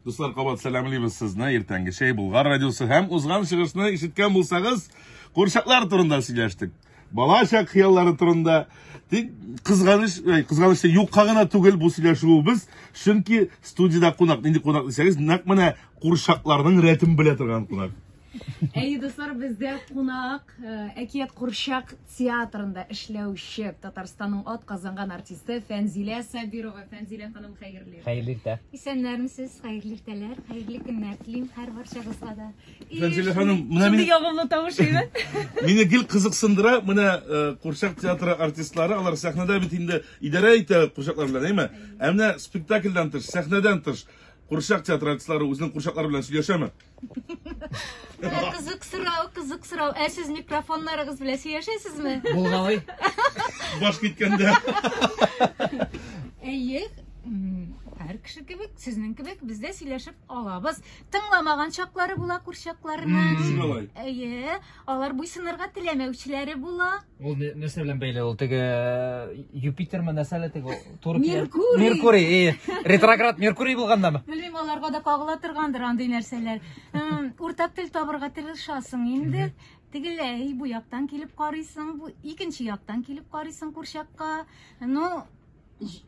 Дуслар, кабат сәламлибез сезне. Иртәнге чәй Булгар радиосы һәм узган чыгышны ишеткән булсагыз, курчаклар турында сөйләштек. Бала чак хыяллары турында. Тик кызганыч, кызганыч юкка гына түгел бу сөйләшүебез, чөнки студиядә кунак, нинди кунак дисәгез, нәкъ менә курчакларның рәтен белә торган кунак. Әйе, дуслар, бездә кунак э, Әкият курчак театрында эшләүче Татарстанның ат казанган артисты Фәнзилә Сабирова. Фәнзилә ханым, хәерле. Хәерле иртә. Исәннәрмесез, хәерле иртәләр, хәерле көннәр телим һәр барчагызга да. Фәнзилә ханым, менә мин... ягымлы тавыш иде. Мине гел кызыксындыра, менә э, курчак театры артистлары, алар сәхнәдә бит инде идарә итә курчаклар белән, әйме? Ә менә спектакльдан тыш, сәхнәдән тыш, курчак театры артистлары үзенең курчаклары белән сөйләшәме? Менә кызык сорау, кызык сорау. Ә сез микрофоннарыгыз белән сөйләшәсезме? Булгалый. Баш киткәндә. Әйе, һәр кеше кебек, сезнең кебек без дә сөйләшеп алабыз. Тыңламаган чаклары була күршакларның. Әйе, алар буйсынырга теләмәүчеләре була. Ул нәрсә белән бәйле ул теге э, Юпитермы нәрсә әле теге туры Меркурий. Меркурий, э, ретроград Меркурий булгандамы? Белмим, аларга да кагыла торгандыр андый нәрсәләр. Уртак тел табырга тырышасың инде. Тегеләй бу яктан килеп карыйсың, бу икенче яктан килеп карыйсың курчакка. Ну,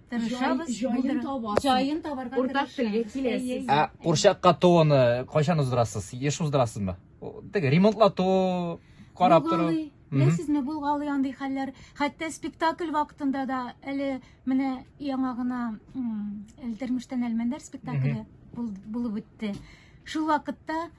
тырышабыз. Җаен табасың. Җаен табарга Уртак телгә киләсез. Ә курчакка тууны кайчан уздырасыз? Еш уздырасызмы? Теге ремонтлату, карап тору. Беләсезме, булгалый андый хәлләр. Хәтта спектакль вакытында да әле менә яңа гына Элдермештән Әлмәндәр спектакле булып үтте. Шул вакытта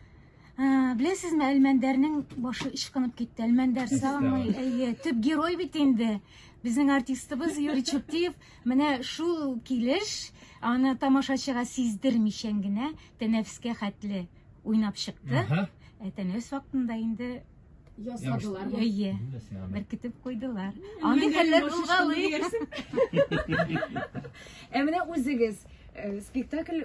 беләсезме, Әлмәндәрнең башы ычкынып китте. Әлмәндәр самый, әйе, төп герой бит инде. Безнең артистыбыз Юрий Чуптиев менә шул килеш аны тамашачыга сиздермичән генә тәнәфескә хәтле уйнап чыкты. Ә тәнәфес вакытында инде Ясадылар. Әйе. Беркетеп куйдылар. Андый хәлләр булгалый. Ә менә үзегез э, спектакль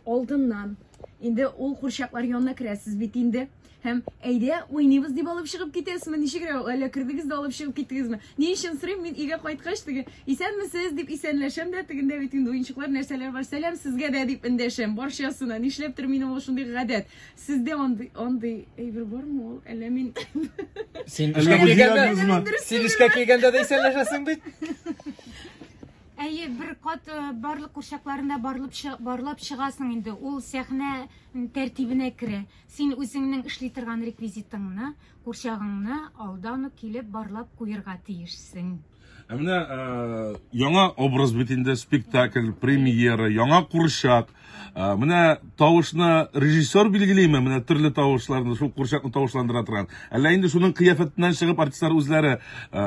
алдыннан инде ул курчаклар янына керәсез бит инде һәм әйдә уйныйбыз дип алып чыгып китәсезме ничегрәк әллә кердегез дә алып чыгып киттегезме ни өчен сорыйм мин өйгә кайткач теге исәнмесез дип исәнләшәм дә тегендә бит инде уенчыклар нәрсәләр бар сәлам сезгә дә дип эндәшәм барчасына нишләптер минем ул шундый гадәт Сездә андый андый әйбер бармы ул? Әллә мин Син Әллә эшкә музей килгәндә, админсызмы? син эшкә килгәндә дә исәнләшәсең бит. Әйе, бер кат э, барлык курчакларында барлап чы- барлап чыгасың инде. Ул сәхнә м, тәртибенә керә. Син үзеңнең эшли торган реквизитыңны, курчагыңны алдан ук килеп барлап куерга тиешсең. Ә менә э, яңа образ бит инде спектакль, премьера, яңа курчак. Э, менә тавышны режиссер билгелиме? Менә төрле тавышларны, шул курчакны тавышландыра торган. Әллә инде шуның кыяфәтеннән чыгып артистлар үзләре э,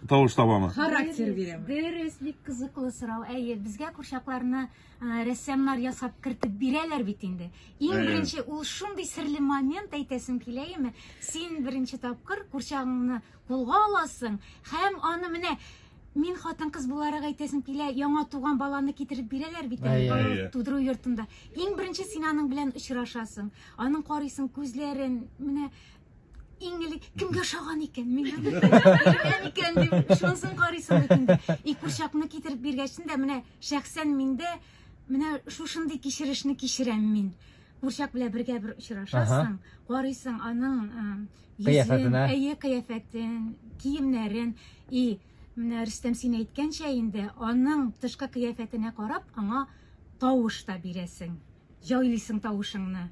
тавыш табамы? Характер бирәм. Дөрес, бик кызыклы сорау. Әйе, безгә курчакларны ә, рәссамнар ясап кертеп бирәләр бит инде. Иң Әйе. беренче ул шундый серле момент әйтәсем килә име? Син беренче тапкыр курчагыңны Кулга аласың һәм аны менә мин хатын-кыз буларак әйтәсем килә, яңа туган баланы китереп бирәләр бит әле бала тудыру йортында. Иң беренче син аның белән очрашасың. Аның карыйсың күзләрен, менә иң элек кемгә ошаган икән, миңа биргән икән дип шунысын карыйсың бит инде. И курчакны китереп биргәчен дә менә шәхсән миндә менә шушындый кичерешне кичерәм мин. Курчак белән бергә бер очрашасың, карыйсың аның Кыяфәтенә. Әйе, кыяфәтен, киемнәрен. И, менә Рөстәм син әйткәнчә инде, аның тышкы кыяфәтенә карап, аңа тавыш та бирәсең. Җайлыйсың тавышыңны.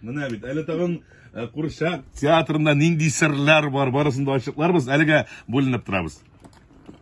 Менә бит, әле тагын э, курчак театрында нинди серләр бар, барысын да ачыкларбыз. Әлегә бүленеп торабыз.